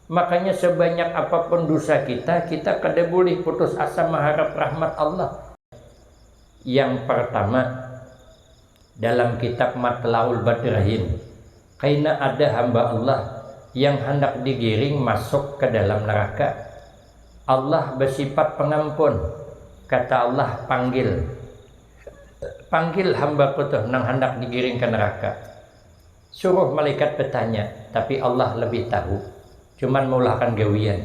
Makanya sebanyak apapun dosa kita, kita kada boleh putus asa maharap rahmat Allah. Yang partama, dalam kitab Matlaul Badrahin, kaina ada hamba Allah yang handak digiring masuk ka dalam neraka. Allah basifat Pangampun. Kata Allah, Panggil. Panggil hamba-Ku tuh nang handak digiring ka neraka. Suruh malaikat batanya, tapi Allah labih tahu, cuman maulahakan gawian.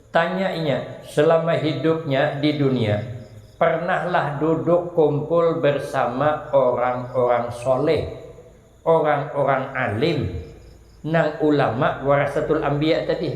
Tanya inya, selama hidupnya di dunia, pernahlah duduk kumpul bersama orang-orang shaleh, orang-orang alim, nang ulama warasatul anbiya tadi?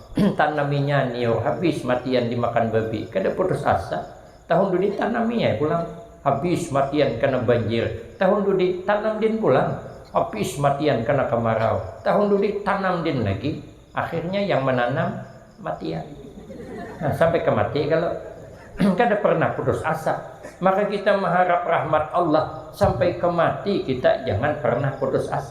Tanaminya nio habis matian dimakan babi, kada putus asa, tahun dudi tanami ai pulang, habis matian kena banjir, tahun dudi tanam din pulang, habis matian kena kamarau, tahun dudi tanam din lagi, akhirnya yang menanam matian. Nah, sampai ke mati kalo kada pernah putus asa. Maka kita maharap rahmat Allah sampai ke mati kita jangan pernah putus asa.